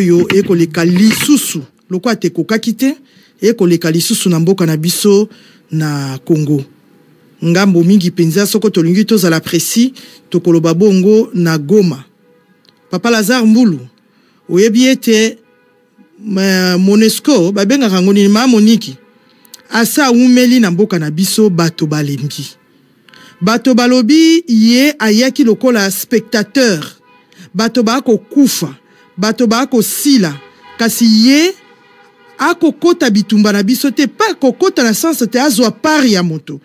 oyo ekoleka lisusu lokola te ekokaki te ekoleka lisusu na mboka na biso na Congo ngambo mingi mpenza soko tolingi tozala presi tokoloba bongo na Goma Papa Lazare Mbulu oyebi ete Monesco babengaka yango nini maa moniki asa awumeli na mboka na biso bato balembi Bato balobi ye ayaki lokola spectateur. Bato baakokufa, bato baakosila, kasi ye akokota bitumba na biso te, pa kokota na sens te azwa part ya moto,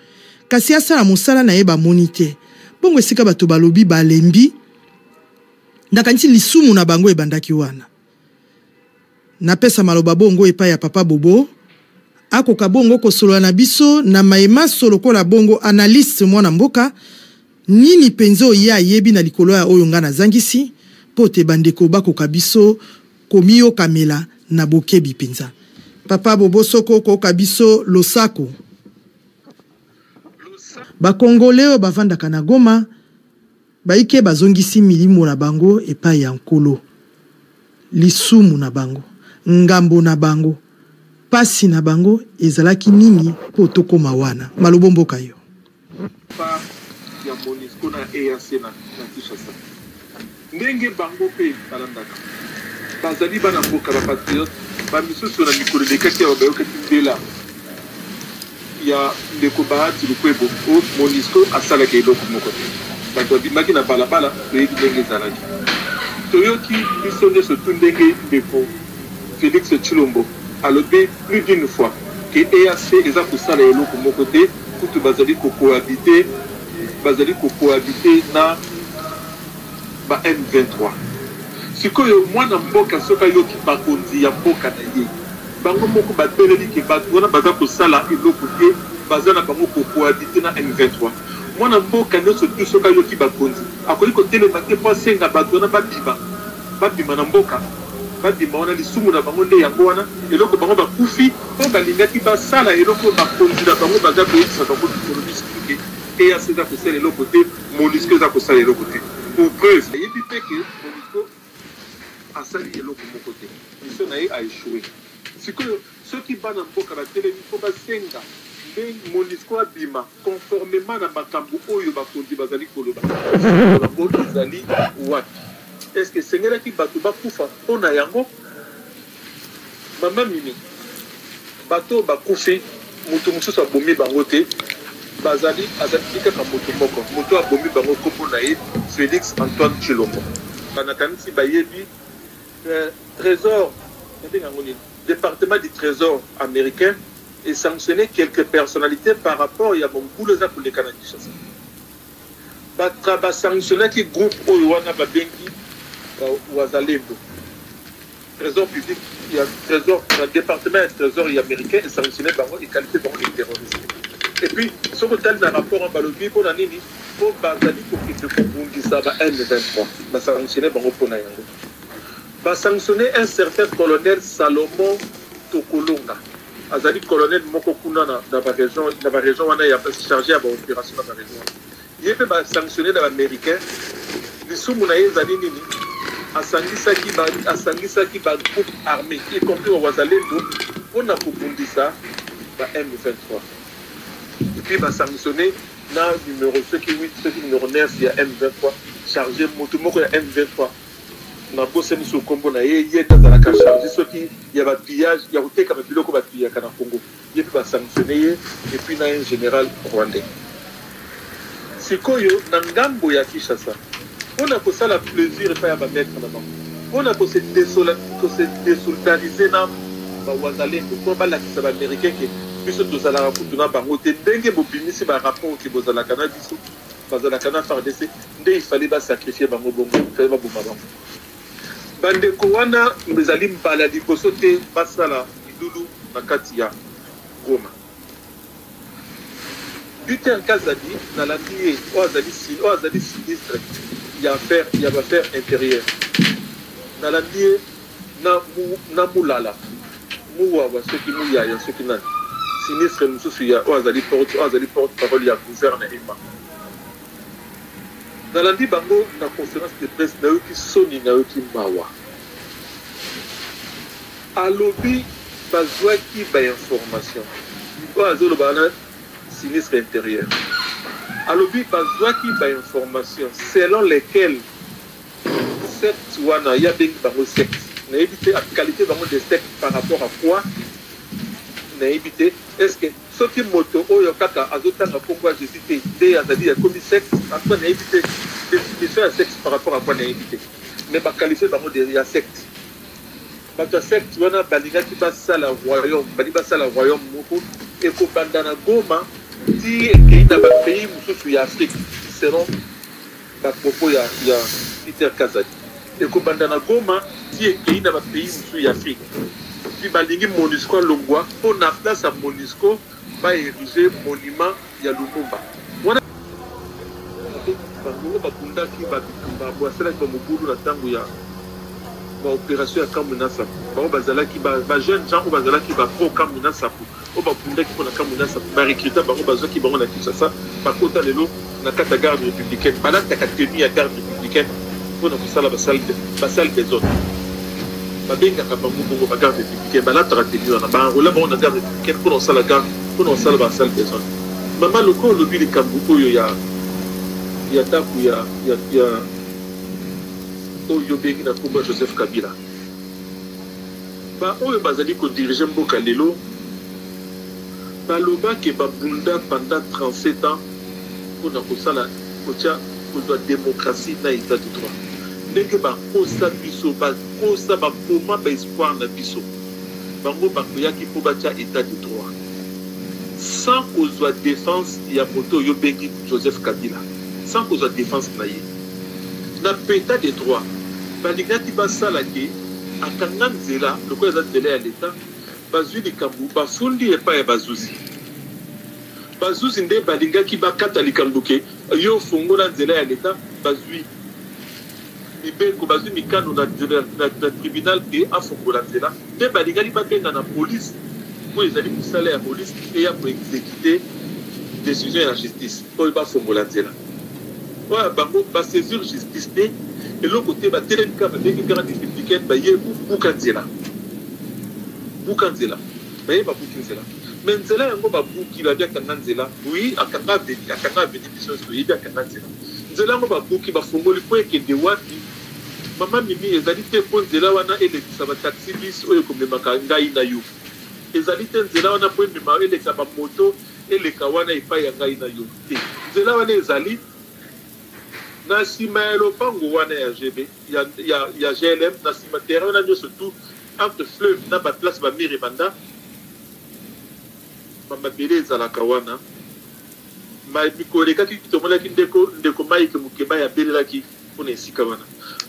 kasi asala mosala na ye bamoni te. Bongo esika bato balobi balembi, nakanisi lisumu na bango ebandaki wana. Napesa maloba bongo epai ya papa Bobo, akoka bongo kosolola na biso na maye manso lokola bongo analyste mwana mboka, nini penza oye ayebi na likolo ya oyo nga nazangisi, po te bandeko bakoka biso komiyokamela na bokebi penza. Papa Bobo soko okooka biso losako. Ba congolais oyo bavandaka na Goma. Baike bazongisi milimo na bango epai ya Nkolo. Lisumu na bango, ngambo na bango, pasi na bango ezalaki nini mpo tokoma wana? Malobo mboka yo. Part ya Monusco na EAC na Kinshasa, ndenge bango mpe balandaka, bazali bana mboka, ba patriotes, ba misusu na mikolo elekaki awa bayokaki mbela. ya ndeko Bahati Lukwebo o Monusco asalaki eloko moko te batu babimaki na balabala toyebi ndenge ezalaki toyoki biso nioso tout ndenge ndeko Felix Tshilombo alobi plus d'une fois que EAC eza kosala eloko moko te kutu bazali ko cohabiter bazali ko cohabiter na ba M23. Sikoyo mwana mboka soki ayoki bakonzi ya mboka na ye bango moko ba teleli ke batu wana baza kosala eloko te baza na bango ko cohabiter na M23. Mwana mboka nionso tout soki ayoki bakonzi akoki ko telema te po asenga batu wana ba bima ba bima na mboka ba bima wana lisumu na bango nde yango wana eloko bango ba kufi po ba lingaki ba sala eloko oyo bakonzi na bango baza ko yebisa bango mikolo misusu ke EAC eza kosala eloko te. Monusco eza kosala eloko te pour preuve ayebi pe que monusco asali eloko moko te mission na ye a echoue sikoyo soki bana mboka ba telemi faut ba senga nde monusco abima conformement na makambu oyo bakonzi bazali koloba sikoyo yango ezali wapi est ce que esengelaki batu bakufa pona yango? Maman mimi bato oyo bakufi moto mosusu abomi bango te bazali azali kaka moto moko moto abomi bango kombo na ye Felix Antoine Tshilombo banakanisi bayebi eh, trésor nabenga yango nini département du trésor américain et sanctionner quelques personnalités par rapport ya mobulu eza koleka na Kinshasa basanctionnaki groupe oyo wana babengi wazalendo Tresor public ya tresor na departement ya tresor ya americain e sanctionne bango e qualifie bango de terroriste et puis soki otali na rapport wana balobi mpo na nini mpo bazali kokende kobundisa ba M23 ba sanctionne bango mpo na yango ba sanctionne un certain colonel Salomon Tokolonga azali colonel moko kuna na ba region na ba region wana ya charge ya ba operation na ba region wana Ye mpe ba sanctionner na b'americain. Lisumu na ye ezali nini? Asangisaki ba asangisaki ba groupes armes y compris ba wazalendo mpo na kobundisa ba M23. Et puis ba sanctionner na numero soki huit soki numero neuf ya M23 charge moto moko ya M23 nabosani sikoyo nkombo na ye, ye nde azalaka charge soki ya ba pillage ya koteka ba biloko ba pillaka na Congo. ye pe ba sanctionne ye et puis na un general rwandais sikoyo na ngambo ya Kinshasa pona kosala plesure epai ya ba maitre na bango pona ko se desoldariser na ba wazalendo po balakisa ba americain ke biso tozalaka kutu na bango te ndenge bobimisi ba rapport ke bozalaka na biso bazalaka na fardc nde il fallait ba sacrifier bango bongo il fallait baboma bango. Bandeko wana ezali mbala ya liboso te basala milulu na kati ya Goma. Peter Kazadi, nalandi ye, oyo azali sinistre ya baaffaire interieure, nalandi ye na Mulala, Muwawa, soki Muyaya, soki nani, sinistre mosusu oyo azali porte-parole ya guvernema. Nalandi bango na conference de presse nayoki soni nayoki mawa alobi bazuaki ba information oyo azoloba wana sinistre interieur alobi bazuaki ba information selon lesquel sept wana ya bengi bango sept nayebi te akalifie bango de sept par rapport à quoi nayebi te est ce que Soki moto oyo kaka azo tanga kombo ya Jesus te nde azali ya ekomi secte en tout cas nayebi te definition ya secte par rapport à quoi nayebi te mais ba qualifie bango de ya secte bato ya secte wana balingaki basala royaume bali basala royaume moko ekobanda na Goma ti ekei na ba pays mosusu ya Afrique selon Ba propos ya ya Peter Kazadi eko banda na Goma ti ekeyi na ba pays mosusu ya Afrique epuis ba lingi Monusco alongua po na place ya Monusco ba erige monument ya Lumumba wana bango ba bundaki ba bitumba bo asalaki ba mobulu na tango ya ba operation ya Kamwina Nsapu bango ba zalaki ba jeunes gens oyo ba zalaki ba pro Kamwina Nsapu. oyo babundaki mpo na Kamwinasa barekrita bango, bazwaki bango na Kinshasa, bakota lelo na kati ya garde republicaine, balataka tenue ya garde republicaine mpo na kosala basale desordre babengaka bango bongo ba garde republicaine balataka tenue wana baenrola bango na garde republicaine mpo na kosala garde mpo na kosala basale desordre mama lokola olobi likambo oyo ya ya ndako ya oyo obengi na nkombo ya joseph kabila Ba oyo bazali ko diriger mboka lelo baloba que ba bunda pendant 37 ans pona kosala kotia kozwa democratie na etat de droit ndenge bakosa biso bakosa ba boma ba espoir na biso bango bakoyaki po batia etat de droit sans kozwa defense ya moto oyo obengi Joseph Kabila sans kozwa defense na ye. Na peta de droit balingaki basala que akanga nzela lokola eza nzela ya l'etat bazui likambo bafundi epai ya bazuzi bazuzi nde balingaki bakata likambo que yo ofongola nzela ya l'etat bazui mibeko bazui mikano na, na, na, na tribunal que afongola nzela nde balingaki babenga na police mpo ezali mosala ya police eya koexekite decision ya justice Oyo ba fongola nzela oyo ya bango ba saisir justice te eloko te ba telemi kaka ba bengi garde républicaine ba ye ko buka nzela buka nzela ba ye ba buki nzela mais nzela yango ba buki ba bi akanga nzela oui akanga aveni akanga aveni biso nso yebi akanga nzela nzela yango ba buki ba fongoli po ekende wapi mama mimi ezali te po nzela wana elekisa ba taxi bis oyo ekomemaka ngai na yo ezali te nzela wana po emema elekisa ba moto Eleka wana epai ya ngai na yo te. Nzela wana ezali na sima ya lopango wana ya GB, ya, ya, ya GLM, na sima terrain wana nyoso tout entre fleuve na ba place ba mire banda ba mabele ezalaka wana. Ma mikolo elekaki tomonaki ndeko ndeko Mike Mukebay abelelaki Pona esika wana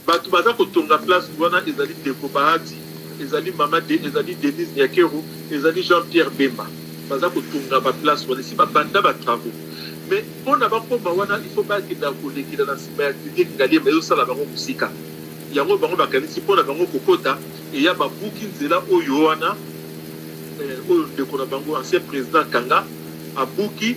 batu baza kotonga place wana ezali ndeko Bahati, ezali mama de, ezali Denise Nyakero, ezali Jean Pierre Bemba baza kotonga ba place wana esi ba banda ba travaux mais pona bakoma wana il faut bakenda kolekela na sima ya clinique Ngaliema ezo sala bango musika yango bango bakanisi pona bango kokota eya babuki nzela oyo wana eh, oyo ndeko na bango ancien president Kanga abuki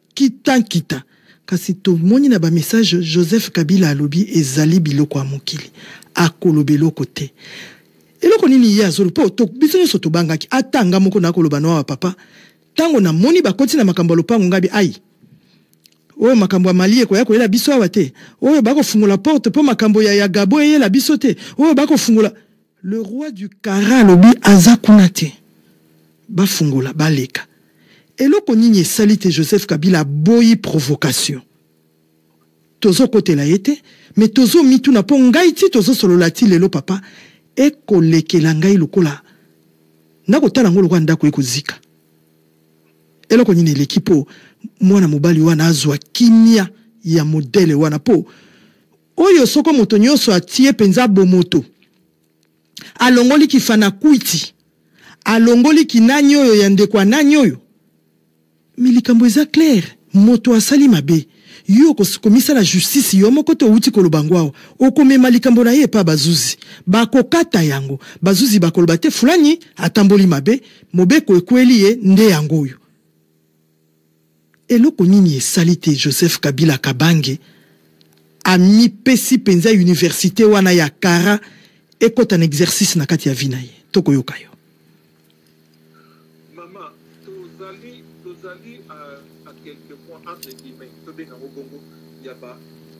Kita nkita. Kasi tomoni na ba message Joseph Kabila alobi ezali biloko ya mokili. Akoloba eloko te. Eloko nini ye azolo po to biso nyoso tobangaki ata nga moko na koloba noa papa tango na moni bakoti na makambo ya lopango ngabi ai oyo makambo ya mali ekoya koyela biso awa te oyo bakofungola porte po makambo ya ya gabo eyela biso te oyo bakofungola Le roi du kara alobi aza kuna te bafungola baleka eloko nini esali te Joseph Kabila aboyi provocation tozokotela ye te me tozomituna mpo ngai ti tozosolola ti lelo papa ekolekela ngai lokola nakotala yango lokola ndako ekozika eloko nini eleki mpo mwana mobali wana azwa kimia ya modele wana mpo Oyo soko moto nyonso atie mpenza bomoto, alongoli kifanakwiti, alongoli kinani oyo ya ndeko ya nani oyo? Mais likambo eza claire, moto asali mabe, yo okomisala justice yo moko te owuti koloba yango awa, okomema likambo na ye epa bazuzi, bakokata yango, bazuzi bakoloba te fulani atamboli mabe, mobeko ekweli ye nde yango oyo. Eloko nini esali te Joseph Kabila Kabange amipesi penza universite wana ya kara ekota na exercice na kati ya vie na ye? Tokoyoka yo. Maman, tozali, tozali à, à quelques mois, entre guillemets, tobenga ngo bongo, ya ba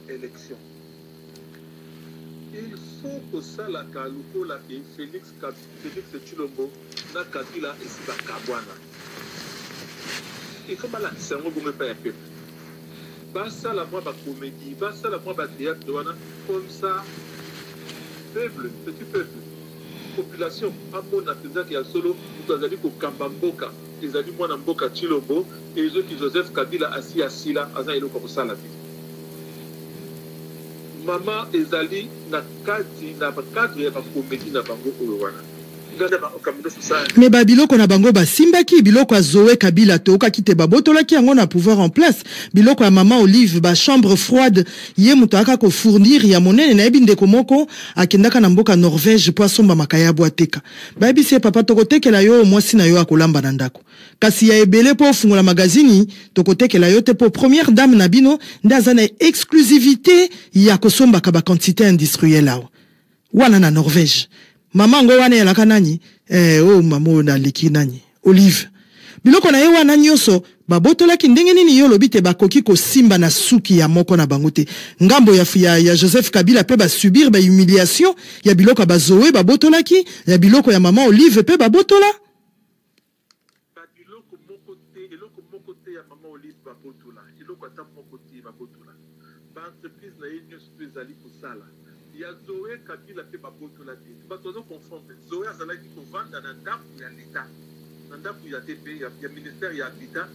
elections. Il faut kosalaka lokola ke Felix Felix tshilombo na kabila esi ba kabuana il faut balakisa yango bongo epai ya peuple basala mwa ba comedie basala mwa ba theatre wana comme ça peuple petit peuple population amona mpenza ke ya solo moto azali kokamba mboka ezali mwana mboka tshilombo ezoki joseph kabila asi asila aza eloko ya kosala te Mama ezali na kati na cadre ya ba comedie na bango oyo wana. Mais ba biloko na bango ba simbaki biloko ya Zoe kabila toyokaki te ba botolaki yango na pouvoir en place biloko ya maman olive ba chambre froide ye mutu ayaka ko fournir ya monene nayebi ndeko moko akendaka na mboka Norvège po asomba makaya ya bwa teka bayebisi ye papa toko tekela yo oyo mwasi na yo akolamba na ndako Kasi ya ebele po ofungola magazini toko tekela yo te po première dame na bino nde aza na exclusivite ya ko sombaka ba quantite industrielle awa wana na Norvège maman ngo wana elaka nani eh oh maman oyo na leki nani Olive biloko na ye wana nioso ba botolaki ndenge nini yo olobi te ba koki ko simba na suki ya moko na bango te ngambo ya ya, ya Joseph Kabila pe ba subir ba humiliation ya biloko ya ba Zoe ba botolaki ya biloko ya maman Olive pe ba botola Ba biloko moko te eloko moko te ya mama olive ba botola eloko ata moko te ba botola ba entreprise na ye nioso pe ezali kosala ya zoe kabila pe ba botola te bato bazo confondre zoe azalaki kovanda na ndaku ya l'etat na ndaku ya te pe ya ministère ya habitat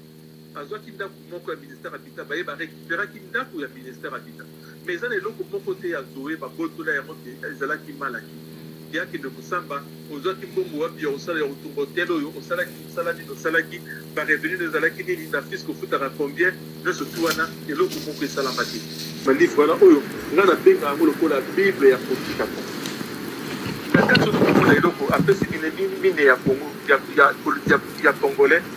Bazwaki ndaku moko ya minister habitat baye ba recuperaki ndaku ya minister habitat mais eza na eloko moko te ya Zoe ba botola yango ke ezalaki mal acquis ke akende kosamba. Ozwaki mbongo wapi ya kosala ya kotonga hotel oyo? Osalaki musala nini osalaki? Ba revenus nayo ezalaki nini? Na fisc ofutaka combien? Nionso tout wana eloko moko esalama te. Ba livre wana oyo nga na benga yango lokola bible ya kotika po na kati ozo komona eloko apesi mineyi mine ya Congo ya ya ya congolais.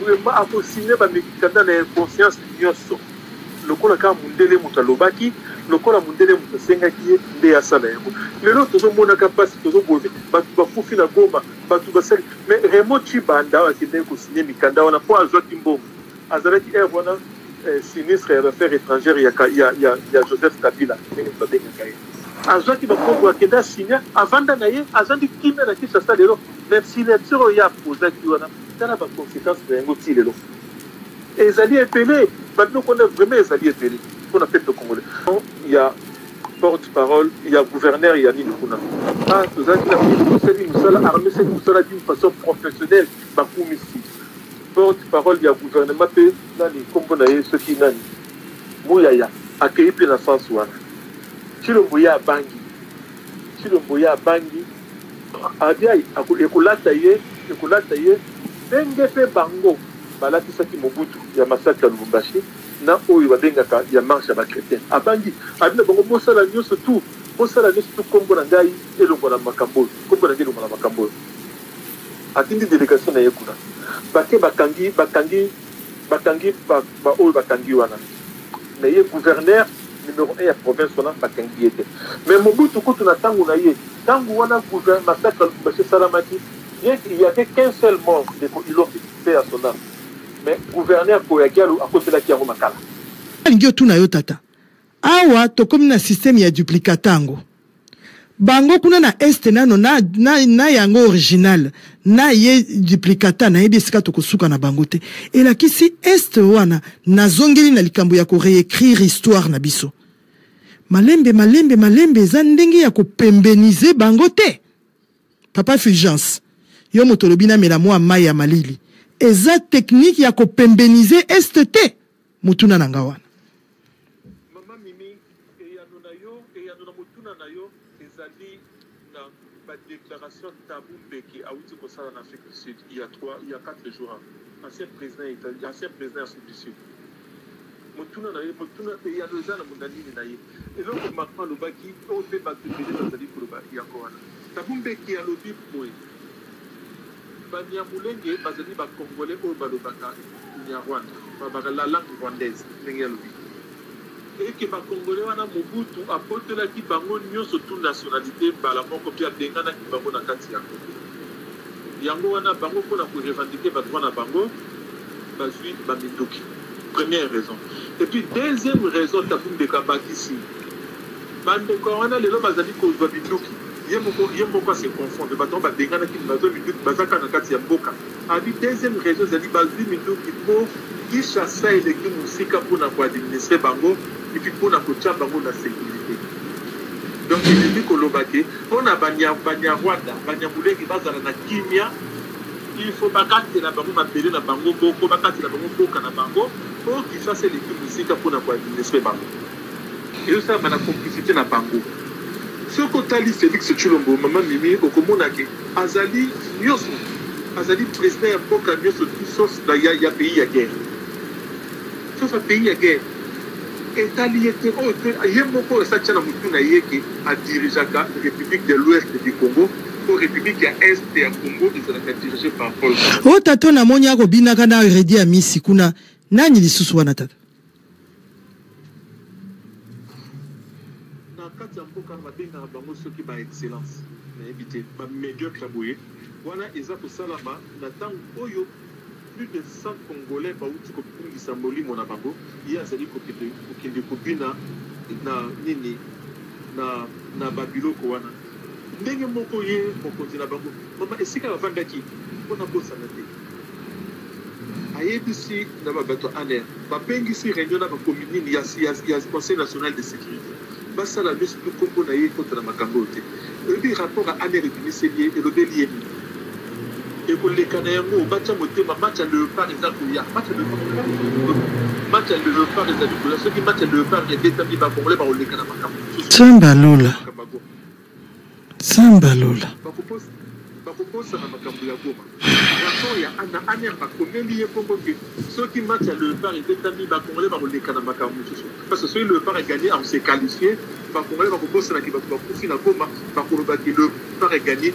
Vraiment ako signe ba mikanda na inconscience nioso lokola kaka mundele moto alobaki lokola mundele moto asengaki ye nde asala yango lelo tozomonaka mpasi tozoboye bato bakufi na goma bato basali mais raymond chibanda akendaki kosigne mikanda wana mpo azwaki mbongo azalaki heure wana eh, sinistre ya baffaire étrangère ya, ya, ya, ya joseph kabila ndenge babengaka ye azwaki bakongo akenda signe avanda na ye azandi kimia na kinshasa lelo na signature oyo ye apozaki wana Tala ba consequences na yango tii lelo ezali ebele, ba biloko wana vraiment ezali ebele pona peuple congolais. Ya porte parole ya gouverneur ya nini kuna ah tozalaki na tosali mosala armee seki mosala d'une façon professionnelle bakumisi porte parole ya gouvernement mpe nani nkombo na ye soki nani muyaya akei mpe na sens wana cilombo ye abangi cilombo ye abangi Abia ekolata ye, ekolata ye ndenge pe bango balatisaki Mobutu ya massacre ya Lubumbashi na oyo babengaka ya marche ya ba chretiens. Abangi, alobi na bango bosala nionso tout, bosala nionso tout kombo na ngai elongwa na makambo oyo, kombo na ngai elongwa na makambo oyo. Atindi delegation na ye kuna, bake bakangi, bakangi. Bakangi ba ba oyo bakangi wana mais ye gouverneur numero un ya province wana bakangi ye te mais Mobutu kutu na tango na ye tango wana gouverneur massacre ya Lubumbashi esalamaki bien qu'il y avait qu'un seul mort ndeko Ilombe paix à son ame mais gouverneur Koya Diallo akotelaki yango makala. Nalingi otuna yo tata awa tokomi na système ya duplicata yango Bango kuna na est nano na, na, na yango original na ye duplicata nayebi esika tokosuka na bango te. Elakisi est wana nazongeli na likambo ya ko reecrire histoire na biso. Malembe malembe malembe eza ndenge ya kopembenize bango te. Papa Fulgence, yo moto olobi namela mua mayi ya malili. Eza technique ya kopembenize est te. motuna na nga wana mama mimi eyano na yo eyano na motuna na yo ezali na badéclaration tabu mbeki awuti kosala na afrique du sud il y a 3 il y a 4 jours ancien président ancien président ya afrique du sud motuna na ye motuna eyano eza na mona nini na ye eloko macron alobaki oyo mpe bato ebele bazali koloba yango wana tabu mbeki alobi boye Banyamulenge bazali ba Congolais oyo balobaka Kinyarwanda, babaka la langue rwandaise, ndenge ye alobi et que ba Congolais wana Mobutu abotolaki bango nionso tout nationalite mbala moko mpe abenganaki bango na kati ya Congo. Yango wana bango mpo na ko revendiquer ba droits na bango bazui ba minduki. Première raison. Et puis deuxième raison Tabu Mbeka abakisi. Ba ndeko ya wana lelo bazali kozwa minduki, ye moko ye moko a se confondre, bato yango babenganaki mais bazwa minduki baza kaka na kati ya mboka. Abi deuxième raison ezali bazwi minduki mpo Kinshasa eleki mosika mpo na ko administrer bango et puis mpo na kotia bango na securite. Donc elingi koloba que mpo na banya banyarwanda, banyamulenge bazala na kimia, il faut bakatela bango mabele na bango moko, bakatela bango mboka na bango mpo Kinshasa eleki mosika mpo na ko administrer bango. Ezo salama na complicite na bango. Soki otali Felix Tshilombo, maman Mimi, okomona ke azali nioso, azali president ya mboka nioso sauf na ya ya pays ya guerre. Sauf ya pays ya guerre. Etali ye te, oyo pe ye moko esi atia na mutu na ye ke a dirigeaka Republique de l'Ouest du Congo po Republique ya Est ya Congo ezalaka dirige par Paul Kagame. Oyo tata oyo namoni ako binaka na Reddy Amisi kuna nani lisusu wana tata? Na kati ya mboka ba bengaka bango soki ba excellences nayebi te ba mediocres ya boye wana eza kosalama na tango oyo plus de 100 congolais bawuti kobungisa molimo na bango ye azali kokende kobina na nini na na ba biloko wana. Ndenge moko ye mokonzi na bango, mama, esika bafandaki, mpo nabosana te, ayebisi na ba bato ya ANR babengisi reunion na bakomi nini ya, ya, ya Conseil national de securite basala nyonso mpe nkombo na ye ekota na makambo oyo te. Oyebi rapport ya ANR ebimiseli ye elobeli ye nini? ekoleka na yango batya motema match ya leopard eza koya match ya leopard match ya leopard ezali koya soki match ya leopard ebetami bakongole bakoleka na makambo mosusu Nzambe ya lola. Samba Lola. bakokosa na makambo ya goma rapport ya ana aner bakomeli ye bongo ke soki match ya leopard ebetami bacongolais bakoleka na makambo mosusu parce que soki leopard eganye akose qualifie bacongolais bakobosanaki bato bakufi na goma bakoloba ke leopard eganye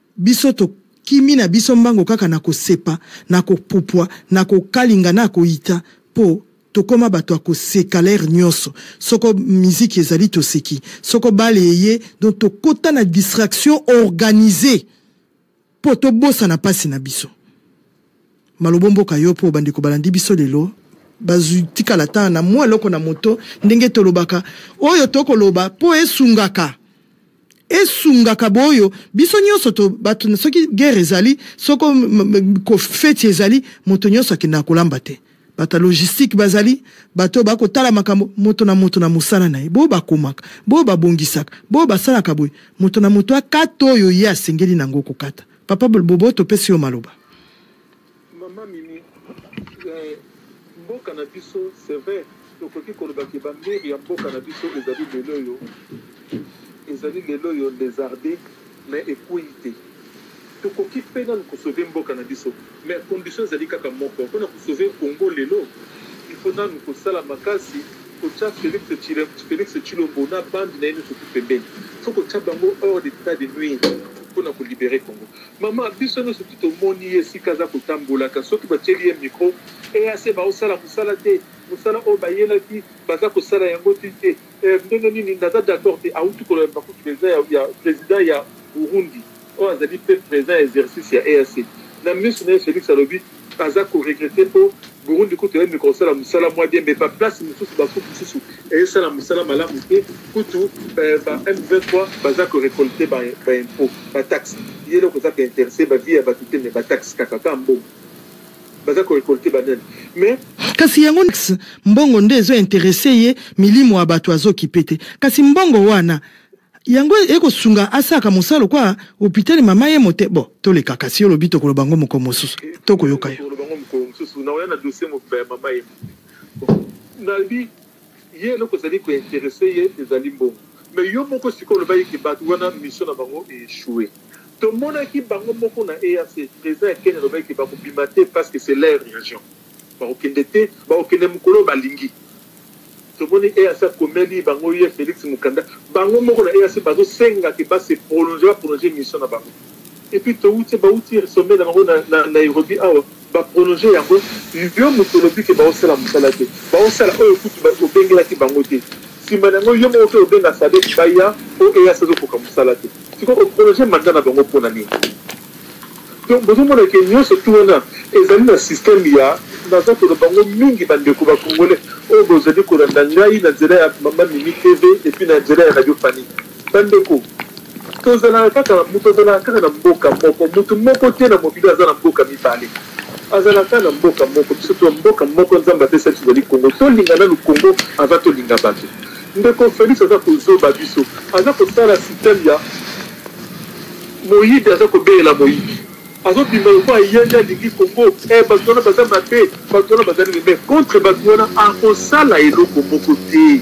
Biso to kimi na biso mbango kaka na ko sepa, na ko pupua, na ko kalinga na ko ita po to koma bato ya ko seka l'heure nioso. Soko miziki ezali to seki, soko bal eye donc to kota na distraction organise po to bosana pasi na biso. Maloba omboka yo po bandeko balandi biso lelo bazwi tikala ata na mwa eloko na moto ndenge tolobaka oyo tokoloba po esungaka esungaka boyo biso nyonso to bato na soki guerre ezali soko kofeti ezali moto nyonso akendaka kolamba te bato ya logistique bazali bato oyo bakotala makambo moto na moto na mosala na ye boyo bakomaka boyo babongisaka boyo basalaka boye moto na moto akata oyo ye asengeli na yango kokata Papa Bobo topesi yo maloba. Maman Mimi, eh, mboka na biso c'est vrai tokoki koloba ke ba mur ya mboka na biso ezali lelo oyo ezali lelo oyo lezarde mais ekueyi te tokoki mpe nanu kosauve mboka na biso Mais condition ezali kaka moko pona ko sauver Congo lelo il faut nanu kosala makasi kotia Felix Felix Tshilombo na bande naye nionso tout pembeni il faut kotia bango hors d'etat de nuire pona ko liberer Congo maman biso nionso tout tomoni ye esika aza kotambolaka soki batieli ye micro EAC baosala musala te musala oyo bayelaki baza kosala yango te. Eh ndenge nini naza d'accord te awuti koloba makutu president ya, ya president ya Burundi oyo azali pe president ya exercice ya EAC na misu na ye Felix alobi aza ko regrette po Burundi kutu eyembi kosala musala mua bien mais ba place mususu ba coop mususu eye sala musala malamu te kutu eh, ba M23 baza ko recolte ba, ba impot ba taxe ye eloko eza ko interesse ba vie ya batu te mais ba taxe kaka ka mbongo Baza ko recolter banani mais. Kasi yango nix mbongo nde ezo interesse ye milimo ya batu azo kipe te kasi mbongo wana yango eko sunga asaka mosalo kwa hopitali mama ye mote bo toleka kasi yo lobi tokoloba ngo moko mosusu toko yoka yo. Tokoloba ngo moko mosusu na oya na dossier mobimba ya mama ye mote. Nalbi Ye eloko ezali ko interesser ye ezali mbongo. Mais yo moko sikoyo olobaki que batu wana mission na bango e echouer. Tomonaki bango moko na EAC, president ya Ken alobaki que bako bima te parce que c'est leur region. Bako kende te, bako kende mokolo oyo balingi. Tomoni EAC akomeli bango ye Felix Mukanda. Bango moko na EAC bazo senga que ba se prolonger, ba prolonger mission na bango. et puis towuti bawuti sommet na bango na Nairobi awa ba prolonger yango yo mutu olobi ke baosala musala te baosala oyo kutu obengelaki bango te sima na yango yo moko oke obenga sadek baya po eas azokoka musala te sikoyo o prolonger mandat na bango pona nini donc bozomona ke nyonso tu wana ezali na systeme ya naza koloba yango mingi bandeko ba congolais oyo bozali kolanda ngai na nzela ya mama mimi tv epuis na nzela ya radio fani Bandeko, tozalaka kaka, moto azalaka kaka na mboka moko. Moto moko te na mokili oyo aza na mboka mibale. Azalaka kaka na mboka moko. Biso to mboka moko Nzambe apesa biso ezali Congo. Tolinga nanu Congo avant tolinga bato. Ndeko Felix aza kozoba biso. Aza kosala système ya moyibi aza kobelela moyibi. Azo bima lokola ye nde alingi Congo. Eh bato wana baza mabe, bato wana baza nini mais contre bato wana akosala eloko moko te.